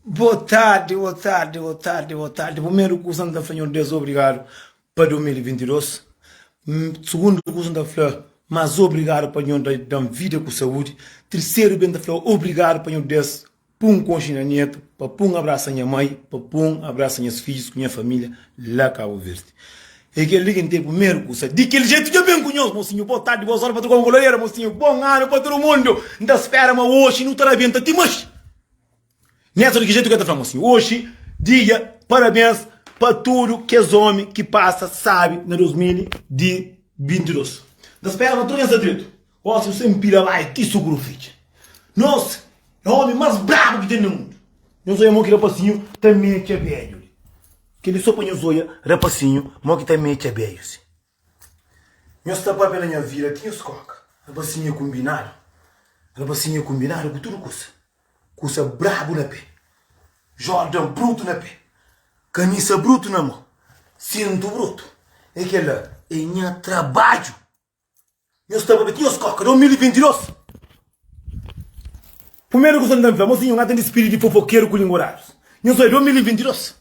Bo tardi, bo tardi, bo tardi, bo tardi. Primeru kusa n ta fla Nhor Deus obrigadu pa 2022. Sugundu kusa n ta fla mas obrigadu pa Nhor dan vida ku saúdi. Terseru ben ta fla obrigadu pa Nhor Deus pun konxe nha netu, pa pun abrasa nha mai, pa pun abrasa nhas fijus ku nha família la Kabu Verdi. É kel-li ki N ten primeru ku sa. Di kel jetu, dja ben ku nhos, mosinhu. Bô tardi, bô sóri pa tudu Angola-Lera, mosinhu. Bon anu pa tudu mundu. N ta spera ma oxi nu ta rabenta ti más. Neto di ki jetu ki el ta fla, mosinhu? Oxi, dja parabens pa tudu kes ómi ki pasa sábi na 2022. N ta spera ma tudu nhos sta dretu. Ósiu sen pila bai ti sugru fitxa Nos é omi más brabu ki ten na mundu Nhos oia mo ki rapasinhu ta metxa bedju li Kel-li so pa nhos oia rapasinhu mo ki ta metxa bedju si Nhos ta pâpia na nha vila ti nhos kóka Rapasinhu é kunbinadu Rapasinhu é kunbinadu ku tudu kusa Kusa brabu na pé Jordan brutu na pé Kamisa brutu na mô Sintu brutu É kel-la é nha trabadju Nhos ta babia ti nhos koka. 2022 Primeru kuza n ta fla, mosinhu, nha tende spiritu di fofokeru ku lingua raju. Nhos obi, 2022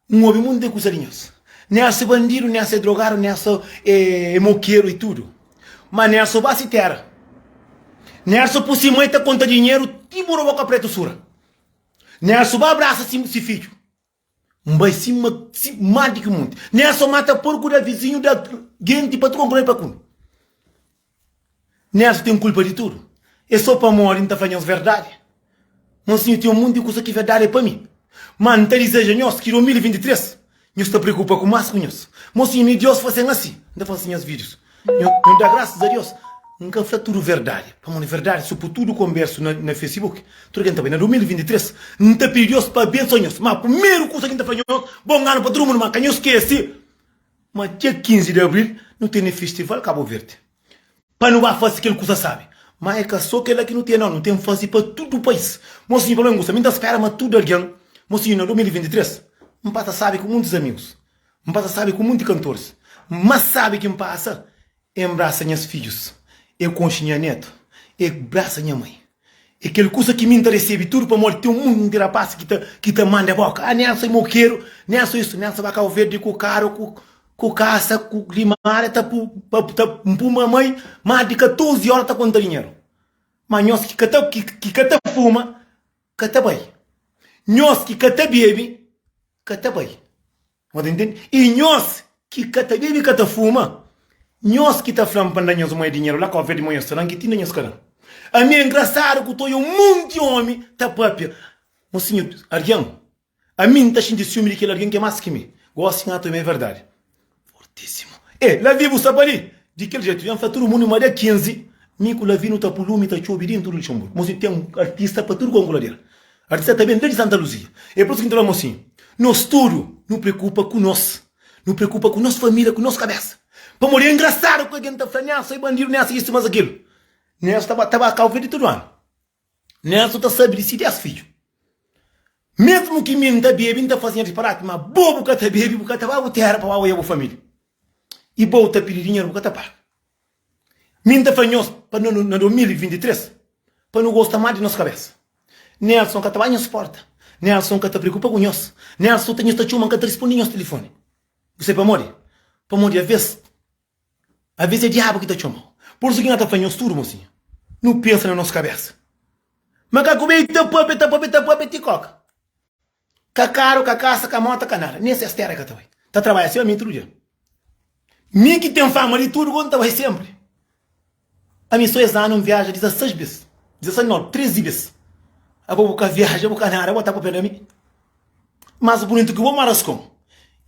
N obi monti de kuza di nhos. Nha ase bandidu, nha ase drogadu, nha ase e mokeru e tudu. Ma nha ase oba si tera. Nha ase pu si mai ta konta dinheru ti buru boka pretu sura. Nha ase oba abrasa si fidju. N bai sima si má di ki monti. N ér so mata porku da vizinhu da genti pa tronku na el pa kume. N ér so ten kulpa di tudu. É so pamodi N ta fla nhos verdadi. Má si nho ten un monti di kusa ki verdadi é pa mi. Má N ta dizeja nhos ki 2023 nhos ta preokupa ku más ku nhos. Má si nho, Diós, faze-m asi, N ta faze nhos fidjus Nho da graças a Deus N ka fla tudo verdade pamo na verdade su po tudo converso na na Facebook tudo ken ta bai na 2023 N ta pidi Deus pa abençoa nhos ma primeiro kusa ki N ta fla nhos bom ano pa tudo mundo ma ka nhos skece ma dia 15 de abril nu tene festival cabo verde pa nu ba fase kel kusa sabi ma e ka so kela ki nu tene no nu tem fase pa tudo pais mo sinho pamé N gusta mi N ta spera ma tudo algen mo sinho na 2023 N pasa sabi ku muntes amigos N pasa sabi ku munti kantors Má sabi ki N pasa E nbrasa nhas fidjus E konxe nha netu E brasa nha mai E kel kusa ki mi N ta resebi tudu pamodi ten un munti rapás ki ta ki ta manda boka Ah Nelson é mokeru Nelson isu Nelson ba Kau Verdi ku karu ku ku kasa ku limada ta pu pa ta N puma mai más di 14 óra ta konta dinheru Má nhos ki ka ta ki ki ka ta fuma ka ta bai Nhos ki ka ta bebe. ka ta bai no ta intende e nhos ki ka ta bebe ka ta fuma nhos ki ta flam pa nda nhos moe dinheru la kofia di moe nhos ta dan ki ti nda nhos ka dan ami engrasadu ku toi un monti omi ta papia mo sinhu argen ami nta xinti siumi di kel argen ke mas ki mi gosi nha toi ma e verdadi Fortisimu. Ê, Lavi bu sta pa li? Di kel jetu, N fla tudu mundu ma dia 15, mi ku Lavi nu ta pun lumi ta txobi dintu di Luxenburgu. Mos li ten artista pa tudu kónku ladeira. Artista ta ben desdi Santa Luzia. É pur isu ki N ta fla-mo sin, Nos tudu nu preokupa ku nos. Nu preokupa ku nos família, ku nos kabésa. Pamodi é ingrasadu ku algen ta fla, N é asa i bandidu, N é asa isu, N é asa kelu. N é asa ta ba kau fla di tudu anu. Nen su ta sabi di si des fidju. Mesmu ki mi N ta bebe, N ta fasi nha disparati, ma bo bu ka ta bebe, bu ka ta ba bu tera pa ba oja bu familia, i bo ta pidi dinheru bu ka ta paga. Mi N ta fla nhos pa no na 2023 pa no gosta mas di nos kabesa. Nelson ka ta ba nhos porta, Nelson ka ta preokupa ku nhos, Nelson ta nhos ta txoma N ka ta rispondi nhos telefoni. Bu sai pamodi? Pamodi aves Aves é diabu ki ta txoma-u. Por isu ki na ta fla nhos tudu, mosinha. Nu pensa na nos kabésa. Makaku bai ta pâpia, ta pâpia, ta pâpia ti kóka. Ka karu, ka kasa, ka móta, ka nada. Nen ses téra el ka ta bai. Ta trabadja sima mi tudu dia. Mi ki ten fama di tudu, bo nu ta bai sénpri. Ami so es anu nviaja 16 bes 16 no 13 bes abo bu ka viaja bu ka nada bo ta papia da mi mas bunitu ki bo ma rascon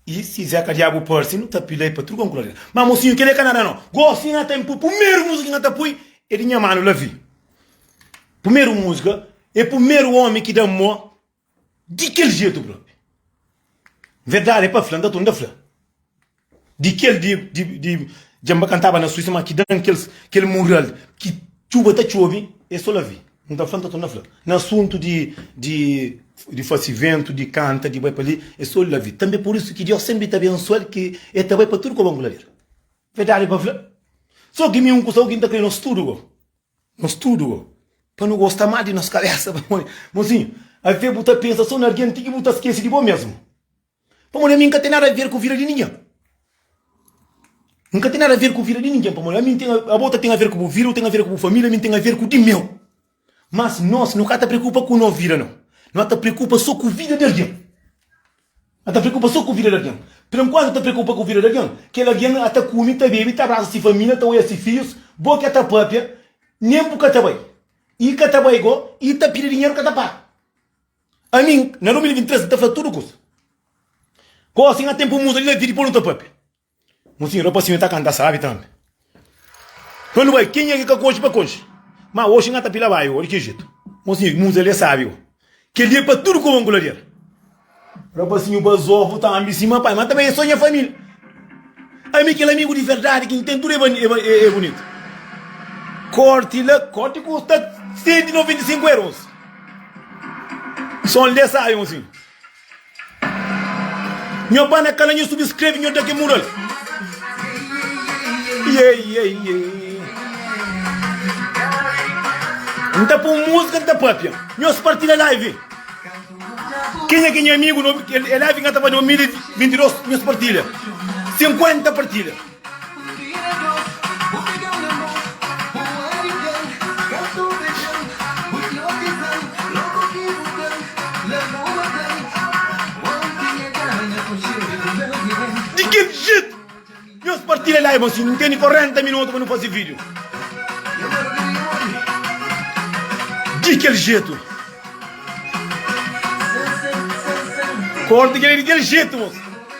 y si zé ka diabu parsi nu ta pilai pa truca un colaria ma mocinho kele ka nada no gosi nha tem pui pumeru musica nha ta pui e di nha manu lavi pumeru musica e pumeru omi ki da mo Di kel jetu propi. Verdadi e pa fla, nta tu nta fla. Di kel di di dja nba kantaba na Suíça ma ki dan kel mural ki txuba ta txobi e so la vi. Nta fla, nta tu nta fla. Na asuntu di di fase ventu, di kanta, di bai pa li e so la vi. Tanbe por isu ki Diós senpri ta abensual ki e ta bai pa tudu koba nku la bira. Verdadi pa fla. So ki mi un kusa ku ki nta kre nos tudu go Nos tudu pa nu gosta má di nos kabésa pamodi. Mozinhu, Ave bu ta pensa sô na argen ti ki bu ta skese di bo mésmu? Pamodi ami N ka ten nada aver ku vida di ningen. N ka ten nada aver ku vida di ningen pamodi ami N ten, abo ta ten aver ku bu vida, bu ten aver ku bu família, ami N ten aver ku di meu. Mas nos, no ka ta preokupa ku no vida nau. No ta preokupa sô ku vida di argen. N ta preokupa sô ku vida di algen. Pur enkuantu, N ta preokupa ku vida di algen. Kel algen a ta kume, ta bebe, ta abrasa se família, ta oja se fidjus. Bo ka ta pâpia, nen bu ka ta bai. I ka ta bai go, i ta pidi dinheru ka ta para. Ami, na 2023, N ta fla tudu kusa. Gosi, N a ten pa muda di la vida i pô-l nu ta pâpia. Mon senhor pa si nhos ta canta sabi tambi pa nu bai kenha ki ka coxi pa coxi ma oxi nha ta pila bai odi ki jeito mon senhor ki musa li é sabi ó kel li é pa tudo como ngula li era rapazinho bazofu tambi si ma pai ma também é só nha família ami kel amigo di verdade ki tem tudo é bonito corte la corte custa 195 euros som li é sabi mon senhor Nho ba na kala nho subscreve nho da ke mural yeah, yeah, yeah. Nta pun música, nta papia Nho spartilha live Quem é que é amigo? É live que estava em 2022, minhas partilhas. 50 partilhas. Di kel jeito nhos partilha live assim não tem nem 40 minutos para não fazer vídeo Di kel jeito Corta kel ali di kel jeito moço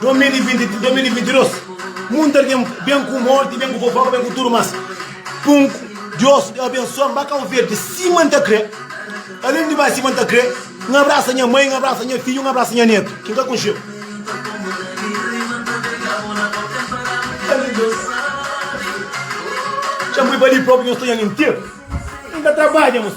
2020, 2022 Mundu algen ben ku morti, ben ku fofoka, ben ku tudu mas Punku, Dios abensua N ba Kau Verdi sima N ta kre Alen di bai sima N ta kre N abrasa nha mai, N abrasa nha fidju, N abrasa nha netu ki N ka kunxeu Dja N bai pa li propi nhos ta nha minteru N ta trabadja, nhos.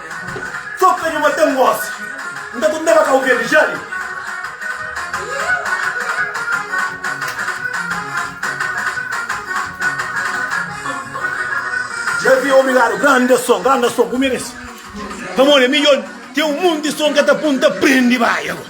Toka nha matan gosi. N ta tornaba kau verdi ja li. Davi obrigado grande som grande som bu merece pamodi é midjor teu monte som ka ta pun ta prende bai agora.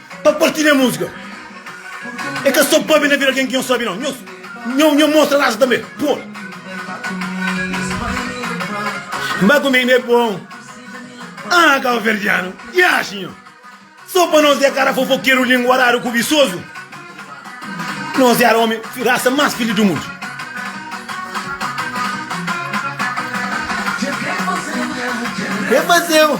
Pa parti ne musga E ka so pabi na bira algen ki nho sabi nau Nho nho mostra rasa tanbe Pol Ba ku mi ne pon Ah kauverdianu Ki ashi nho So pa nos e kara fofokeru lingua raru kubisozu Nos era omi rasa mas fili du mundu Ke fazeu?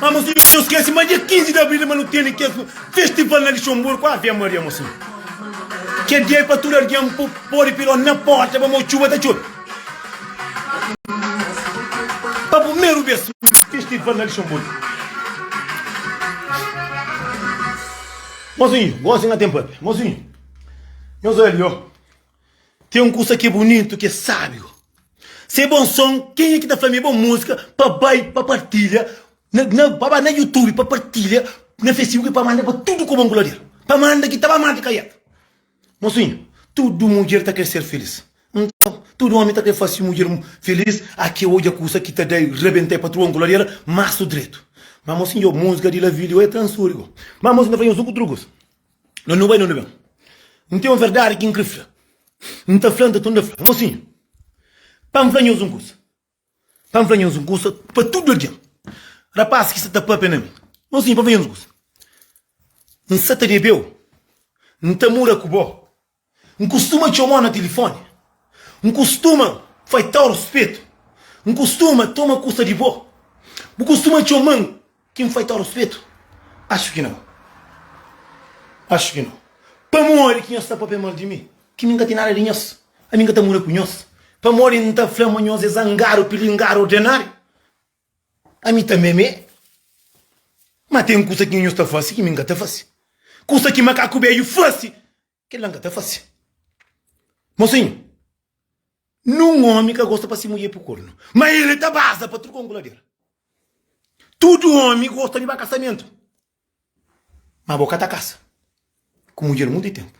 Ah, mas nu dja skese, ma dia 15 di abril ma nu tene kes festival na Lixonburgu, Ave Maria mo Senhor. Kel dia é pa tudo alguém po- pode piló na porta pa mo txuba ta txobe. Pa primeiro vez festival na Lixonburgu. Mozinho, gosi nga tem papi. Mozinho, nhos ali ó. Tem um kusa ki é bunitu ki é sábiu se bom som kenha ki ta fla mi é bom músika pa bai pa partilha na pa bai na youtube pa partilha na facebook pa manda pa tudu kuba nkulha del pa manda ki ta ba mati kaiat mosinha tudu mudjer ta kre ser filís nton tudu omi ta kre fase mudjer filís aki é odja kusa ki ta dai rebenta e patrua nkulha del masu dretu ma mosinha o músika di la vídio é transurigo ma mosinha ta fla nhos un ku tru kusa. Mas nu bai nunde ben N ten un verdadi ki N kre fla N ta fla N ta tunda fla Mosinhu pa N fla nhos un kusa Pa N fla nhos un kusa pa tudu algen Rapás ki sta ta pâpia na mi Mosinhu pa N fla nhos un kusa N sa ta debe-u N ta mura ku bo. N kustuma txoma-u na tilifóni. N kustuma faita-u ruspetu. N kustuma toma kusa di bo. Bu kustuma txoma-m ki N faita-u ruspetu? Axu ki nau. Axu ki nau. Pamodi ki nhos sta pâpia mal di mi? Ki mi N ka ten nada di nhos. Ami N ka ta mora ku nhos. Pamodi N ta fla ma nhos é zangadu, pilingadu, ordenáriu? Ami tanbe me. Ma ten kusa ki nhunhus ta fase ki mi nka ta fase. Kusa ki makaku beju fase, kel la nka ta fase. Mosinhu, nun omi ka gosta pa si mudjer pui kornu, ma el ta baza pa tudu konkuladera. Tudu omi gosta di ba kasamentu. Ma bo ka ta kasa ku mudjer monti tempu.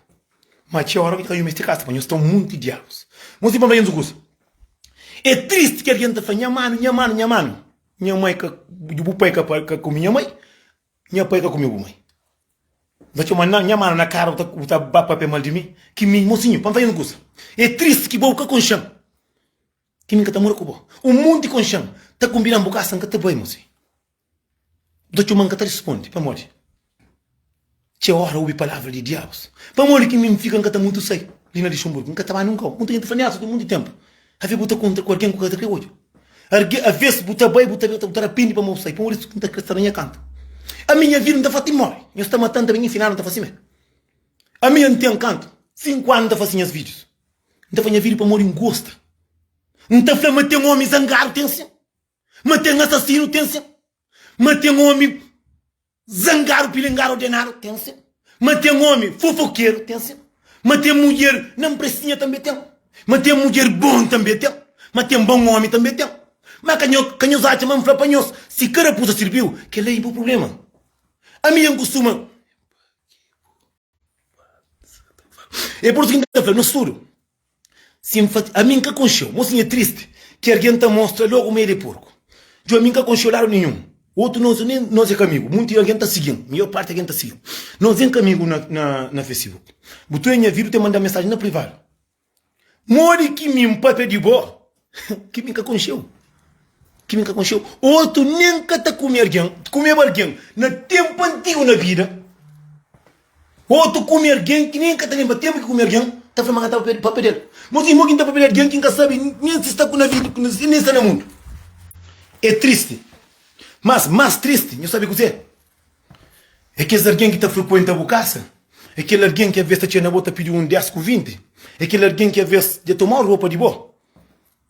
Ma txeu ora ki ta ka yumi esti kasa pa nhos ta un monti diabus. Nhos sim pa fla nhos un kusa, e tristi ki algen ta fla, nha manu, nha manu, nha manu, nha mai ka, bu pai ka kumi nha mai, nha pai ka kumi bu mai. Nhos ta txoma na nha manu na kara bu ta ba papia mal di mi. Ki mi, mosinhu, pa fla nhos un kusa, e tristi ki bo bu ka konxan. Ti mi n ka ta mora ku bo? Un monti ku nxan ta kunbida-m bu kasa, n ka ta bai mô si bu ta txoma-m. N ka ta respondi pamodi txeu óra obi palavra di diabus. Pamodi ki mi n fika n ka ta mutu sai li na Luxemburgu? N ka ta bai nunkau. Monti algen ta fla mi, Neilson, ten monti ténpu avê bu ta kontra ku algen ku ka ta krê odja. Arge, avês bu ta bai, bu ta ben, bu ta rapende pamodi bu sai. Pamodi es n ta krê sta na nha kantu. Ami nha vida n ta fla-m mori, nhos ta mata-m tanbê. Nha final n ta fla si mê ami n ten kantu? Sinku anu n ta fla si nhas fidjus N ta fla nha vida pamodi N gosta N ta fla ma ten omi zangadu ten sen Ma ten asasinu ten sen Ma ten omi zangadu pilingadu ordenadu ten sen Ma ten omi fofokeru ten sen Ma ten mudjer na mpresinha tanbe ten Ma ten mudjer bon tanbe ten Ma ten bon omi tanbe ten Ma ka nho ka nhos atxa ma N fla pa nhos si ka rapuza sirbiu kel-la i bu prubléma Ami N kustuma. É por isso que nta fla, nos tudo si N fati, ami N ka konxeu, mo si nha tristi ki argen nta mostra logo ma el é porku. Djo ami N ka konxeu lado ninhum otu nos nem nos é ka amigu, munti di argen ta sigi-m, maior parti di argen ta sigi-m, nos nem ka amigu na na na Facebook. Bu tude nha vida u ta manda-m mensagem na privado. Modi ki mi npapia di bo? Ki mi ka konxeu. Ki mi ka konxeu. Otu nen ka ta kume algen, kumeba algen na tenpu antigu na bida. Otu kume algen ki nen ka ta lenbra tenpu ki kume algen, ta fla ma ka ta papia del. Ma otu irmon ki nta papia di algen ki nka sabe nen si sta na vida, si nen sta na mundu. E tristi. Mas mas tristi, nho sabe kuzê? É kes algen ki ta frikuenta bu kasa? É kel algen ki alvês ta txina bo ta pidi un dés ku vinti? É kel algen ki alvês dja toma ropa di bo?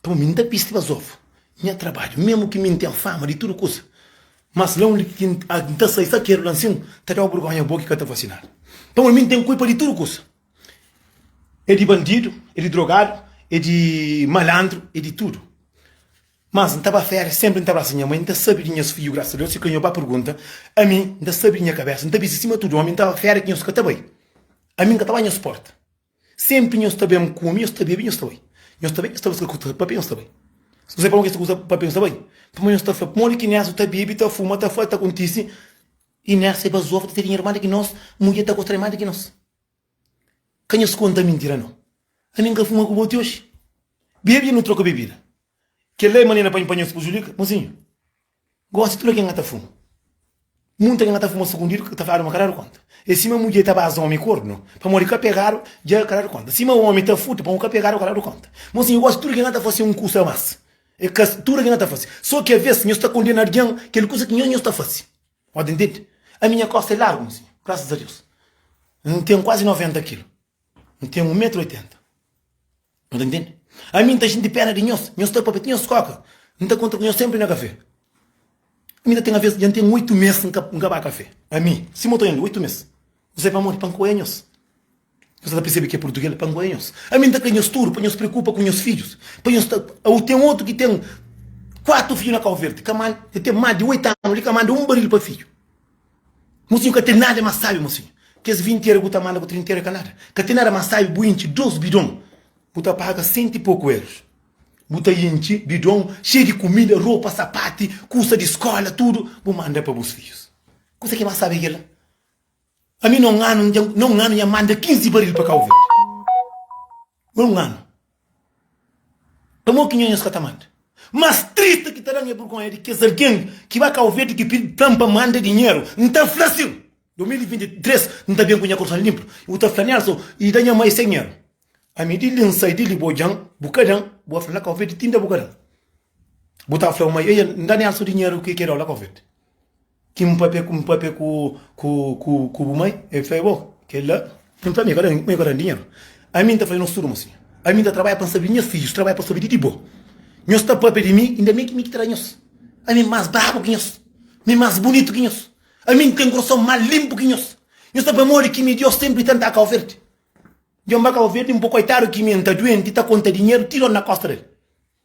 Tá bon, mi N ta bisti bas ovu, mi N trabadja, mésmu ki mi N ten fama di tudu kuza, mas la undi ki N ta sai sakeru la nsin ta da-u burgónha, bo ki ka ta vasinadu. Tá bon, mi N ten kulpa di tudu kuza, é di bandidu, é di drogadu, é di malandru, é di tudu. Mas N ta ba férias Senpri N ta brasa nha mãe N ta sabi di nhas fidju Grasa Deus si ka nho ba pergunta Ami N ta sabi di nha kabésa N ta bisti sima tudu omi N ta ba férias ki nhos ka ta bai Ami N ka ta ba nhos porta Senpri nhos ta ben kume nhos ta bebe nhos ta bai Nhos ta ben nhos ta buska kusa papia nhos ta bai Si nu sai pa algun ki es ta kusa papia nhos ta bai Pamodi nhos ta fla Pamodi ki Inés ta bebe ta fuma ta fla ta kontise Inés é bazofa ta tene irman di ki nos Mudjer ta gosta di más di ki nos. Ka nhos konta mintira nau. Ami N ka fuma ku bo ti oxi. Bebe nu troka bebida. Kel-la é manera pa N panha-s pujudika? Mozinhu, gósi tudu algen ka ta fuma. Munti algen ka ta fuma sukundidu, ka ta fladu ma ka dadu kónta. É sima mudjer ta baza ómi kornu, pamodi ka pegadu, dja ka dadu kónta. Sima ómi ta furta, pamodi ka pegadu, ka dadu kónta. Mozinhu, gósi tudu ke N ka ta fase é un kusa a más. É ka tudu ke N ka ta fase. Sô ki avês nhos ta kondena algen kel kusa ki nhos nhos ta fase. Ó di ntende? Ami nha kosta é largu, nsi, grasas a Deus, N ten kuazi 90 kilu, N ten 1 metru 80. No ta ntende? Ami N ta xinti péna di nhos, nhos ta papia ti nhos kóka. N ta kontra ku nhos sénpri na kafé. Ami ta ten avês, dja N ten 8 mês N ka ba kafé. Ami, Sima N ta oja-l li, 8 mês, N sai pamodi pa N ka oja nhos. Nhos ka ta persebe ki é purtugês pa ngoia nhos? Ami N ta kre nhos tudu pa nhos preokupa ku nhos fidjus pa nhos ta Awo ten otu ki ten kuatu fidju na Kau Verdi ka manda el ten más di oitu anu li ka manda un baril pa fidju Mosinhu ka ten nada más sábi mosinhu Kes vinti eru ku ta manda ku trinta eru é ka nada Ka ten nada más sábi bu intxi dôs bidon bu ta paga sentu i poku erus bu ta intxi bidon xeiu di kumida ropa sapati kusa di skola tudu bu manda pa bus fidjus Kusa ki é más sábi é kel-la? Ami na un anu dja na un anu nha manda 15 baril pa Cabo Verde na un anu pamo ki nhonhas ka ta manda mas triste ki ta dan é burgonha di kes algen ki ba Cabo Verde ki pidi plan pa manda dinheru n ta fla sin 2023 n ta ben ku nha korson linplu i bu ta fla nel so i da nha mai se dinheru ami di li n sai di li bo djan bu ka dan bu a fla na Cabo Verde ti nda bu ka dan bu ta fla bo mai eia n da nel so dinheru ki el ke dau la Cabo Verde Ki un papia ku un papia ku ku ku ku bu mai e fla bo kel la. N fla mi kada mi kada dinheru ami n ta fazê nos tudu mostra ami n ta trabadja pa n sabi di nhas fidjus trabadja pa sabi di di bo nhos ta papia di mi inda mi ki mi ki ta da nhos ami mas brabu ki nhos mi mas bunitu ki nhos ami n ten kurason mas linpu ki nhos nhos ta pamodi ki mi dios senpri tenta kau verdi djon ba kau verdi n po koitadu ki mi n ta duenti ta konta dinheru ti dor na kosta del.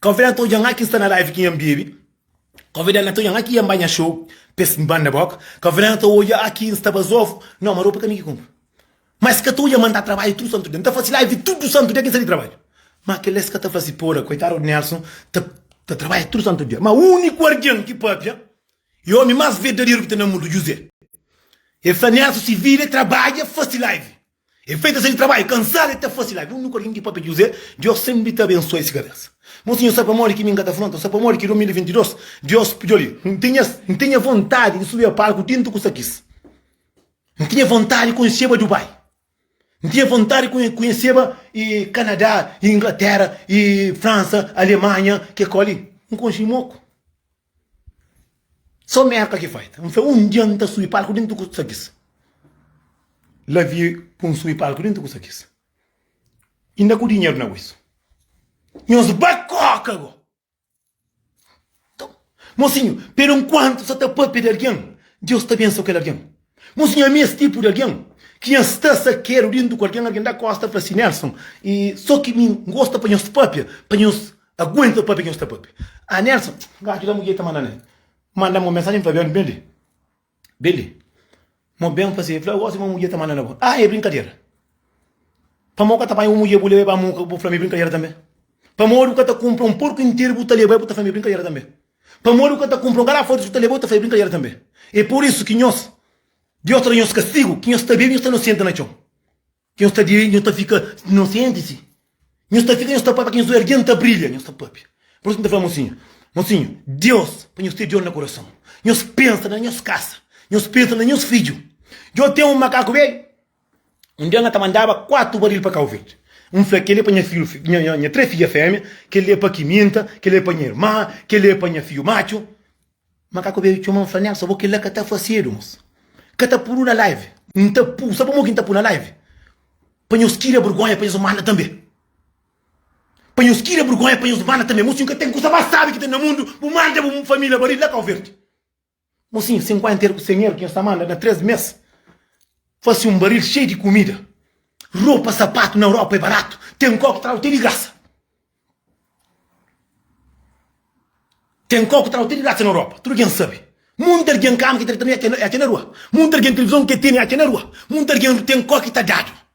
Konvidá-l ta odja nha ki sta na live ki nha bebe Konvidá-l na ta odja nha ki nha ba nha show pa es banda bok Konvidá-l na ta odja nha ki nsta bazovu Nau ma ropa ka mi ki kunpra Ma es ka ta odja ma nta trabadja tudu santu dia Nta fase live tudu santu dia ki nsa di trabadja Ma kel la es ka ta fase poda Koitadu di Nelson ta ta trabadja tudu santu dia Ma uniku argen ki papia E omi mas verdaderu ki ta na mundu Juzé E fla Nelson si vida é trabadja fase live E feita se di trabaiu kansadu e ta fase live un nunka rindi pape José Diós senpri ta abensua esse kabesa Mon senhor sa pamodi ki mi nka ta fronta sa pamodi ki 2022 Diós pudi-u li N tinha N tinha vontadi di subia palku tintu ku sakis N tinha vontadi konheseba Dubai N tinha vontadi konhe konheseba e Kanadá e Inglatera e Fransa Alemanha ke koli N konhesi moku. Só merka ki faita. N fla un dia n ta subi palku dentu ku sakis. La vie pun n subi palku dentu ku sakis. Inda ku dinheru na guisu. Nhos ba koka go. Mosinhu, peru nkuantu sa ta papia di algin, Deus ta bensoa kel algin. Mos nha ami es tipu di algen ki nha sta sakedu dintu ku algen algen da kosta fla si Nelson e so ki mi ngosta pa nhos papia pa nhos aguenta papia ki nhos ta papia ah Nelson n ka djuda mudjer ta manda na manda mo mensajen Fabian ben li ben li mo ben fla si fla gosi mo mudjer ta manda na bo ah e brinkadera pamo bu ka ta panha bu mudjer bu leba ba mu bu fla mi brinkadera tambe pamo bu ka ta kunpra un porku interu bu ta leba bu ta fla mi brinkadera tambe. Pamodi bu ka ta kunpra-u, ka la foi Deus ki ta leba-u ta faze brinkadera tanbe. É pur isu ki nhos, Deus ta da nhos kastigu, ki nhos ta bebe, nhos ta nosienta na txon. Ki nhos ta bebe, nhos ta fika nosienti, si, nhos ta fika, nhos ta pâpia ki nhos oi algen ta brilha, nhos ta pâpia. Pur isu ki N ta fla mosinhu, mosinhu, Deus pa nhos ten Deus na kurason. Nhos pensa na nhos kasa, nhos pensa na nhos fidju. Djo ten un makaku bedju. Un dia, N ta mandaba kuatu baril pa Kau Verdi. N fla, Kel-li é pa nha fidju, nha três fidja-fémia, kel-li é pa Kiminta, kel-li é pa nha irma, kel-li é pa nha fidju matxu. Makaku bebe txoma, N fla, Nelson, bo kel-la ka ta fasedu, mos. Ka ta pu-nu na live. N ta pu. Sabe pamodi ki N ta pu na live? Pa nhos kira bergonha, pa nhos manda tanbe. Pa nhos kira bergonha, pa nhos manda tanbe. Mos txu, N ka ten kusa más sábi ki ten na mundu, bu manda bu família baril la Kau Verdi. Mo sin, sinkuenta er ku sen er, ki nhos ta manda na três mês, fase un baril xei di kumida. Ropa, sapatu na Europa é baratu, ten kau ki tradu te di grasa. Ten kau ki tradu te di grasa na Europa, tudu ken sabe. Munti algen, kama ki ta ten é ke na rua, munti algen, tilivizon ke ten é ke na rua, munti algen, ten kau ki ta dadu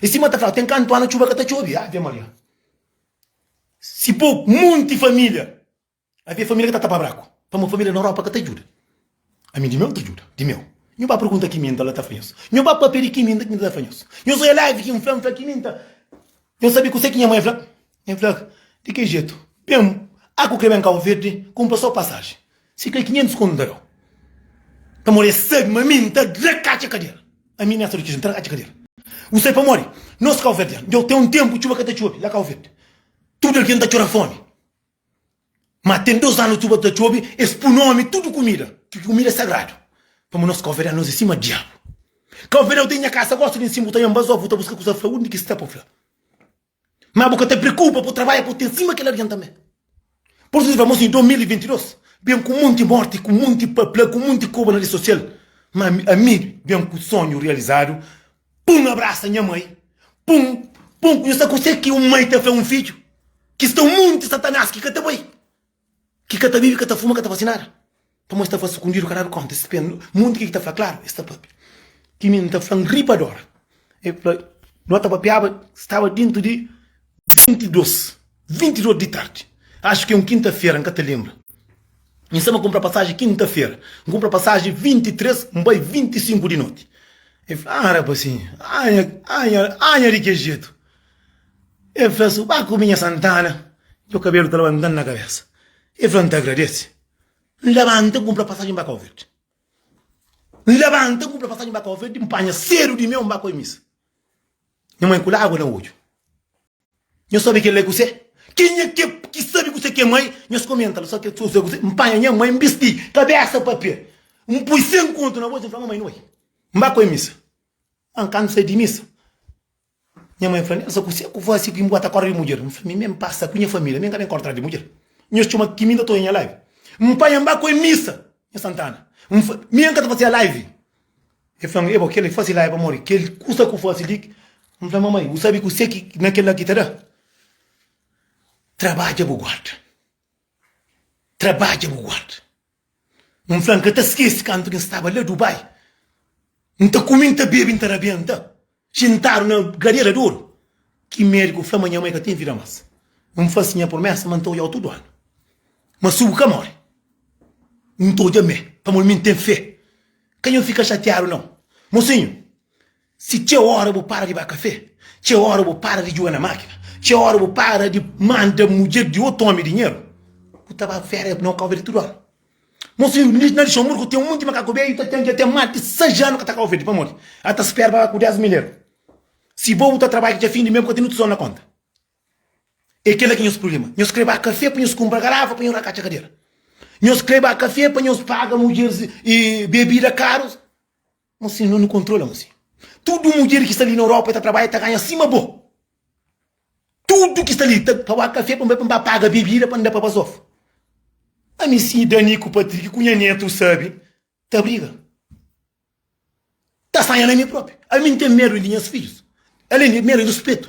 E sima ta fla, ten kantu anu txuba ka ta txobi. Ave Maria! Si po monti família, avia família ki ta tapa braku. Pamodi família na Europa ka ta djuda. Ami di meu ta djuda, di meu. Nhu ba pergunta ki minta, la ta fla nhos. Nhu ba pâpia di ki minta, ki minta ta fla nhos. Nhos oja live ki N fla, N fla ki minta. Nhos sabe kuzê ki nha mai fla? N fla, Di ki jetu? Ben, a ku kre ben Kau Verdi, kunpra so pasaji. Si kre kinhentus kontu N ta dau. N ta mori. Es sabi ma mi N ta tra ka atxa kadera. Ami Néstor Kirchner, N ta tra ka atxa kadera. Bu sai pamodi nos kauverdianu, djau ten un tenpu txuba ka ta txobi la Kau Verdi. Tudu algen ta txora fomi. Ma ten dos anu txuba ta txobi, es pui nomi tudu kumida, ki kumida é sagradu. Pamodi nos kauverdianu, nos é sima diabu. Kauverdianu, bu ta inha kasa gosi di N simu, bu ta inha Mbazoku, bu ta buska kusa fla. Undi ki sta pa bu fla? Má bu ka ta preokupa, bu trabadja pa bu ten sima kel algen tanbê. Pur isu, si fla, Mo sinhor, 2022 ben ku monti mórti, ku monti papla, ku monti koba na redi sosial. Má ami ben ku sonhu rializadu pa N abrasa nha mai, pa N pa N konxi sa ku se ki un mai ta fla un fidju ki sta un monti satanás ki ka ta bai. Ki ka ta bibi, ka ta fuma, ka ta fase nada. Pamodi es ta fla sukundidu, ka dadu konta. Es pia munti ki ki ta fla klaru, es ta papia. Ti mi N ta fla-m ri pa dora. El fla, No ta papiaba, staba dentu di 22, 22 di tardi. Axu ki é un kinta-fera, N ka ta lenbra. N staba kunpra pasaji kinta-fera. N kunpra pasaji 23, N bai 25 di noti. El fla, Aa, rapazinhu, anha, anha, anha di ke jetu. El fla su, Ba ku mi nha Santana, djo kabelu ta labanta-m na kabesa. El fla, N ta agradese. N labanta, N kunpra pasajen ba Kauverdi. N labanta, N kunpra pasajen ba Kauverdi, N panha sedu di meu, N ba ku el misa. Nha mãe kula agua na odju. Nhos sabe kel la é kuse? Kenha ki é ki sabe kuse ki é mãe? Nhos komenta la, so kel so sa kuse. N panha nha mãe, N bisti kabesa pa pé, N pui sen kontu na bolsa, N fla, Mamãe, N bai, N ba ku el misa. Má N ka N sai di misa. Nha mãe fla-m, Elsa, kuse ku fase ki bu ka ta korda di mudjer? N fla, Mi ben pasa ku nha família, mi ka ben korda di mudjer. Nhos txoma ki mi ta ta oja nha live. N panha-m ba ku el misa, nha Santana. N fla, Mi N ka ta fase nha live. El fla-m, Ebo, kel li fase live pamodi kel kusa ku fase li. N fla, Mamãe, bu sabe kuse ki na kel la ki ta da? Trabadja bu guarda. Trabadja bu guarda. N fla-m ka ta skese kantu ki N staba la Dubai, N ta kume, N ta bebe, N ta rabenta xintadu na gadera di oru. Ki mediku fla ma nha mai ka ten vida mas. N fase nha promesa ma N ta odja-u tudu anu. Mas si bu ka more, N ta odja-m me, pamodi mi N ten fe. Ka nha fika xatiadu nau, mosinhu. Si txeu óra bu para di ba kafé, txeu óra bu para di djuga na mákina, txeu óra bu para di manda mudjer di otu ómi dinheru, bu ta ba férias na un kau-verde tudu óra. Nos vizinhu na Lixanburgu ten un monti di makaku bedju, el ta ten dja ten más di sais anu ka ta kau-verde. Pamodi? El ta spera pa ba ku dés mil eru. Si bo bu ta trabadja dja fin di mês, bu ka ten otu tizol na kónta. É kel-la ki é nhos prubléma. Nhos krê ba kafé pa nhos kunpra garafa pa nhos rakatxa kadera. Nhos krê ba kafé pa nhos paga mudjer bebida karus. Má si no nu kontrola un si. Tudu mudjer ki sta li na Europa e ta trabadja ta ganha sima bo. Tudu ki sta li ta ta ba kafé pa mi, pa mi ba paga bebida pa mi da pa bazof. Ami si Dani ku Patrick ku nha netu sabe ta briga. Ta sanha na mi propi. Ami N ten medu di nhas fidjus. Alen di medu di rispitu.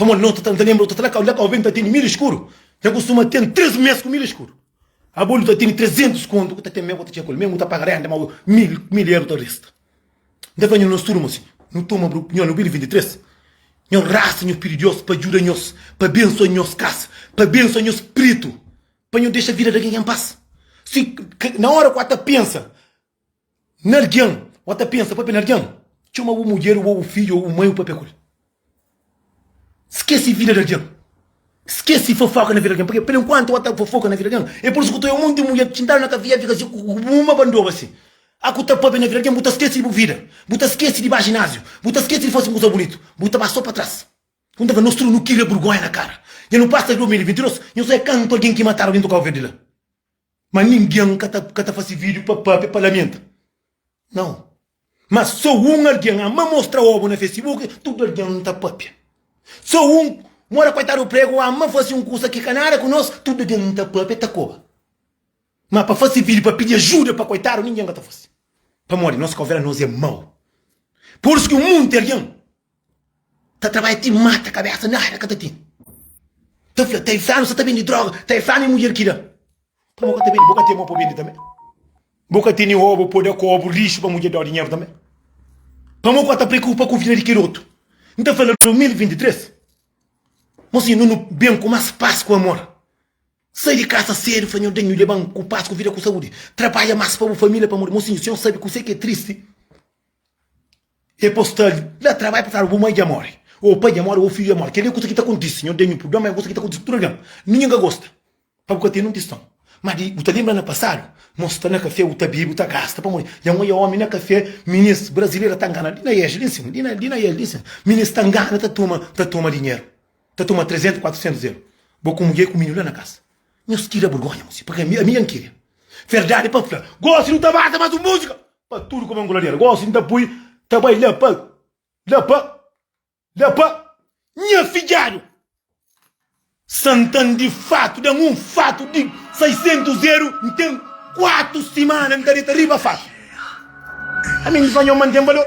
Pamodi no ta ta lenbra, ta ta la ka, la ka alven ta tene milha skuru, ten kustuma ten tres mes ku milha skuru. Abo nu ta tene trezentus kontu ku ta ten mel ku ta txeka-l, mel nu ta paga renta mau mil, mil eru ta resta. N ta fla nhos, nos turma si nu toma bru, nhos, nobili 23, nhos rasta, nhos pidi Dios pa djuda nhos, pa bensua nhos kasa, pa bensua nhos pritu, pa nhos dexa vida di algen ka en pas. Si, na ora ku a ta pensa. Na algen, o ta pensa papia na algen? Txoma bu mudjer ô bu fidju ô bu mai ô papia ku el. Skese vida di algen. Skese fofoka na vida di algen. Purkê? Pur enkuantu o ta fofoka na vida di algen, e pur isu ku ta obi monti mudjer ta txintadu na kafia, fika si ku bu ma bandoba asin. A ku ta papia na vida di algen, bu ta skese di bu vida, bu ta skese di ba jináziu, bu ta skese di fase un kuza bunitu. Bu ta ba so pa tras. Kum ta fla, nos tudu nu kila burgonha na kara. Dja nu pasa di 2022, nhos sta kantu algen ki matadu algen tokaba verde la. Ma ningen ka ta ka ta fase video pa papia pa lamenta nau ma so un algen ama mostra obu na facebook tudu algen ta papia so un mora koitadu prego ama fase un kusa ki ka nada ku nos tudu algen ta papia ta koba ma pa fase video pa pidi ajuda pa koitadu ningen ka ta fase pamodi nos ka obi la nos e mau pursu ki un munti algen Ta trabalha ti mata kabesa nada ka ta ten Ta fla ta infranu sa ta bende droga ta infranu e mudjer ki da pa bo ka ta bende bo ka ten mo pa bende tambe bo ka teni oba pa da kobu lixu pa mudjer da dinheru tambe pa mo ka ta preokupa ku vida di kel otu N ta fla 2023 mo si nunu ben ku mas pas ku amor sai di kasa sedu fla nho denhu leban ku pas ku vida ku saudi trabalha mas pa bu família pamodi mo sinhu si nho sabe kuse ki é tristi. E postadi da trabai pa fla bu mai dja mori o pai dja mori o fidju dja mori keli kusa ki ta kontisi nho tenhu prublema é kusa ki ta kontisi pa tudu algen ninhen ka gosta pa bu ka tene un tistau ma di bu ta lenbra na pasadu nho sta na kafé bu ta bebi bu ta gasta pamodi dja nho é omi na kafé minis brazileira ta ngana li na es li nsin li na li na es li nsin minis ta ngana ta toma ta toma dinheru ta toma 300 400 euro bo ku mudjer ku mininu la na kasa nho skira burgonha mossi paki ami ami dja nkiria verdadi pa fla gosi nu ta mata mas un musika. Pa tudu ku mangula del gosi nta pui ta bai la pa la pa la pa nha fidjadu santan di fatu dan un fatu di 600 eru ntem kuatu simana nta deta riba fatu ami nfa nho manten balor.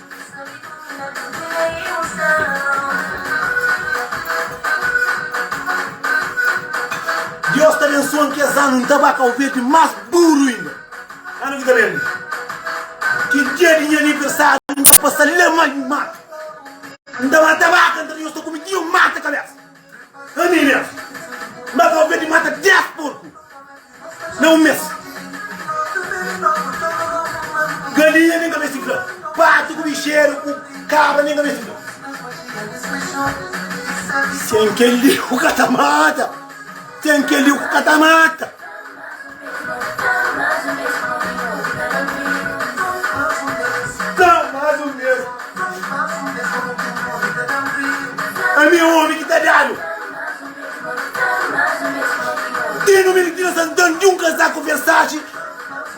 Diós ta abensoa n kes anu n ta ba kau verdi más duru inda. Anu ki ta ben li. Ki dia di nha aniversariu n ta pasa le ma di mata. N ta mata baka, nta di nhos ta kume dia mata kabesa. Anime Má ka alvedi mata 10 porku na un mês Galinha nem ka ben si fla Patu ku bixeru ku kabra nem ka ben si fla Sen kel-li bu ka ta mata Ten keliu ku ka ta mata. Tá mais ou menos. A minha homem que tá dado. Tem no menino tira santando de um casaco Versace.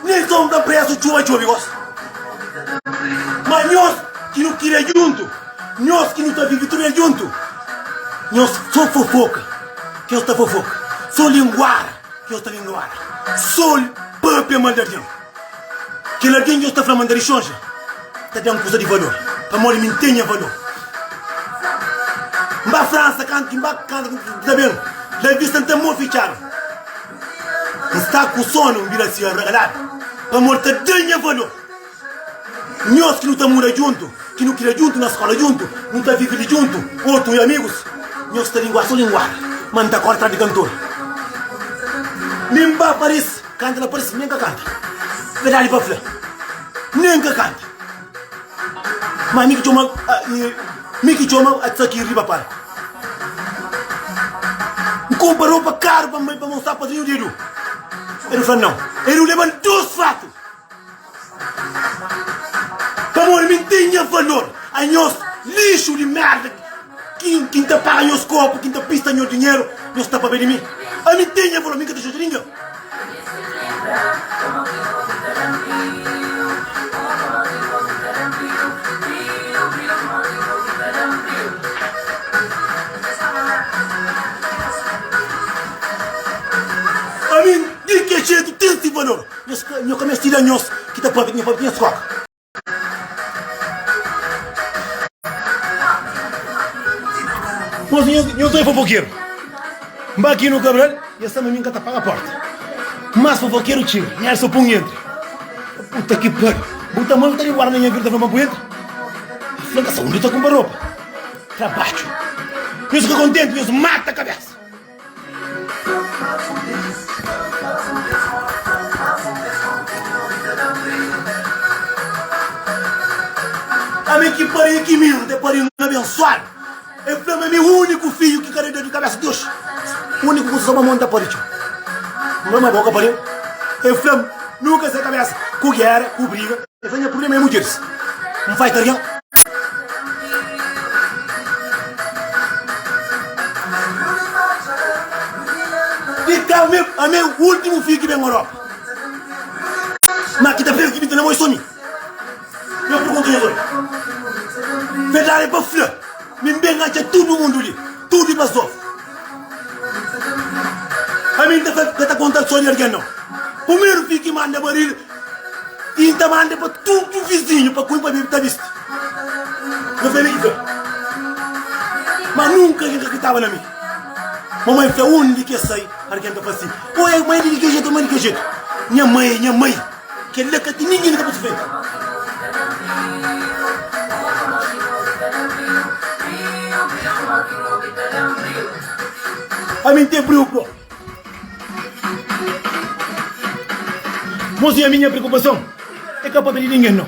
Nem só um da preço chuva chuva eu gosto. Mas nós que não queria junto, nós que não tá vivo tudo junto, nós só fofoca. Ki es ta vovô Sô linguara ki es ta linguara Sô pâpia mal di algen Kel algen ki es ta fla ma N ta dixonxa Ta da-m kuza di valor Pamodi mi N ten nha valor N ba Fransa kantu ki N ba Kantu ki N ta ben La vista N ten mô fitxadu N sta ku sonu N bira si ragaladu Pamodi ta da nha valor. Nhos ki nu ta muda djuntu, ki nu kria djuntu, na skola djuntu, nu ta vive li djuntu, otu é amigus. Nhos ta lingua so linguada, ma N ta korda atrás di kantor. Linba parese, kanta la parese, nen ka kanta. Verdadi pa fla, nen ka kanta. Ma mi ki txoma, mi ki txoma Atsaki riba palku. N kunpra ropa karu pa mostra pa padrinhu di Edu. Edu fla nau. Edu leba-l dus fatu. Pamodi mi n ten nha valor Anhos lixu di merda Ki n ta paga nhos korpu Ki n ta pista nho dinheru Nhos ta pabia di mi Ami n ten nha valor Mi n ka ta xuta ningen Ami n di ki jetu ten si valor. Nho ka meste da nhos ki ta pape, nha pape nhos koka. Nhos nhos doi fofokeru nba ki nu kabral nhos ta ma mi nka ta paga porta mas fofokeru txiga nha el sa pun entri puta ki pariu bu ta mal ta di guarda nha vida ta fla ma bu entri nhos fla ka sa undi ta kumpa ropa trabadju nhos fika kontenti nhos mata kabesa. Ami ki pari e ki minu te pari un abensuadu. E fla ma mi uniku fiju ki ka da dedu kabesa Deus. Uniku kusa sa mama un ta pari txeu. Mama bo ka pari-m. E fla-m, Nu ka se kabesa ku gera, ku briga. Esa nha problema é mudjeris N faita algen Di tau mim amei ultimu fio ki ben Europa Ma ki ta pensa ki bin ta namoi so mi Nha pergunta nha zói Verdade pa fla mi ben atxa tudu mundu li Tudu i pa so. Ami N ta fla, ka ta konta so di algen nau. Primeru fi ki manda baril i N ta manda pa tudu vizinhu pa kui pa bi ta bisti. N fla, Ami ki fla. Ma nunka algen ka kritaba na mi. Mamai fla, undi ki es sai? Algen ta fla si, o e mai di ki jetu, e mai di ki jetu. Nha mai, nha mai. Kel-la ka ten ningen ka pode fla el. Pa mi N ten briu própi. Mos i ami nha preokupason é ka pâpia di ningen nau.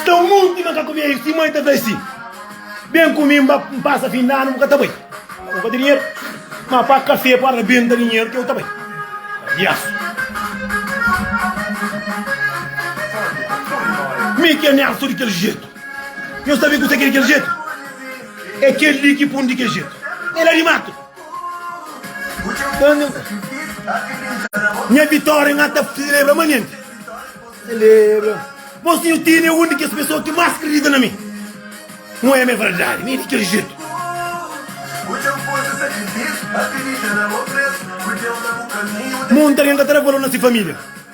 Sta monti ma ka ku beiu si mai ta fla si ben ku mi nba pasa fin di anu bu ka ta bai bu ka ta dinheru ma pa kafe pa rabenta dinheru ke u ta bai palhasu mi ke mi astu di kel jetu mi sabi ku sa ke di kel jetu e kel li ki pun di kel jetu el la di matu. Nha vitória nha ta celebra ma nen celebra Mos tinha ti né un di kes pessoa ki mas kridita na mi Mo é mé verdade mi é di kel jeito Mo un ta tenta tra valor na si família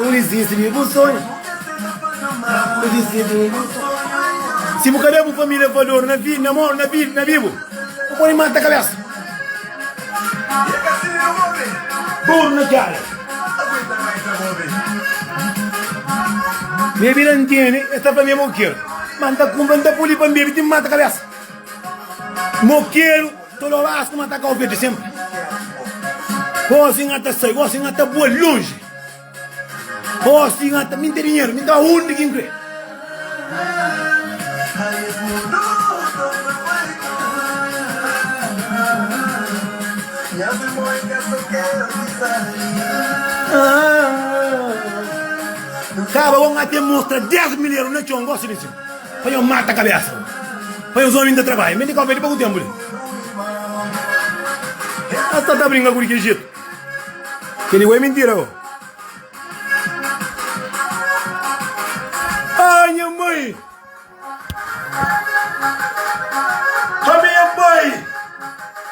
N dizisti di bu sonhu N dizisti di bu sonhu Si bu ka da bu família valor na vida na morte na vida na vivo bu pode mata cabeça Dor na cara Minha vida entende esta para mim moqueiro Manda compra da poli para mim tem mata cabeça Moqueiro Todo ras kuma ta ka obi di sempre Hozi nha ta sai, hozi nha ta bua longe Hozi nha ta, mi n'ten dinheiro, mi n'ten ba undi ki n'kre Kaba bo nha ten mostra dez milheru na txon, gosi di nsin. Pa nhos mata kabésa. Pa nhos ómi N ta trabadja. Mende kópia li pa ku ténpu li. Nhos sta ta brinka ku di ki jetu. Kel-li bo é mintira bo. Aa nha mai. Ami nha mai.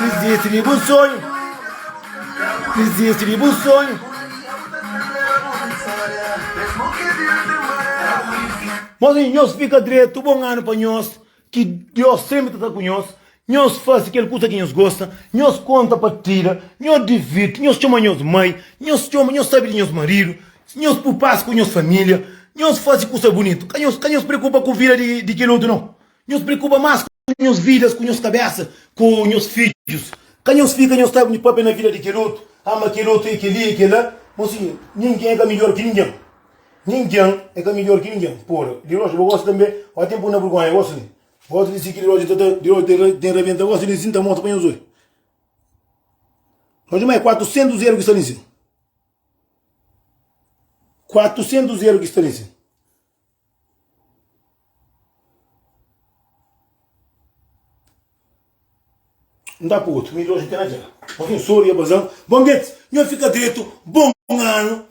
Dizisti di bu sonhu Dizisti di bu sonhu Mas nhos fika dretu Bon anu pa nhos Ki Dios senpri ta sta ku nhos Nhos fasi kel kusa ki nhos gosta Nhos konta partida Nhos divirti Nhos txoma nhos mai Nhos txoma Nhos sabe di nhos maridu Nhos pui pas ku nhos família Nhos fasi kusa bunitu Ka nhos preokupa ku vida di kel otu nau. Nhos preokupa más ku nhos vidas, ku nhos kabésa, ku nhos fidjus. Ka nhos fika nhos ta obi pâpia na vida di kel otu, ama kel otu, é kel-li, é kel-la. Mon sinhor, ningen é ka midjór ki ningen. Ningen é ka midjór ki ningen. Pura, di Roja, bo gosta tanbê? Ó, ten puna vergónha, gosta li. Gosta di si ki di Roja ta ta, di Roja ten ten rabenta, gosta li si, nta mostra pa nhos obi. Roja, ma é kuatursentus eru ki sta li sin. Kuatursentus eru ki sta li sin. N ta pôr otu, mi loja ten na dja-l Mas un sô riba bazan, bon bêt, nha fika dretu Bon anu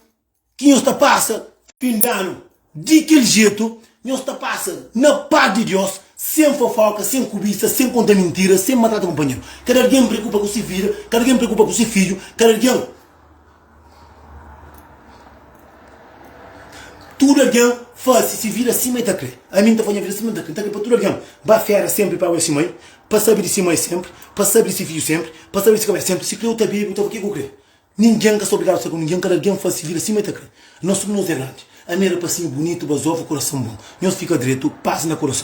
ki nhos ta pasa, fin danu Di kel jetu nhos ta pasa, na pas di Diós Sen fofóka, sen kubisa, sen konta mintira Sen maltrata kunpanheru Kada algen preokupa ku si vida, kada algen preokupa ku si fidju Kada algen. Tudu algen fase si vida sima e ta kre Ami N ta fase nha vida sima N ta kre N ta kre pa tudu algen ba fera senpri pa awe si mai Pa sabe di si mai senpri Pa sabe di si fidju senpri Pa sabe di si kabesa senpri Si kre u ta bebe u ta fla kiko kre Ningen ka sta obrigadu sta ku ningen Kada algen fase si vida sima e ta kre Nos tudu nos e grandi Ami rapasinhu bunitu Ba zova kurason bon Nhos fika dretu Pas na kurason.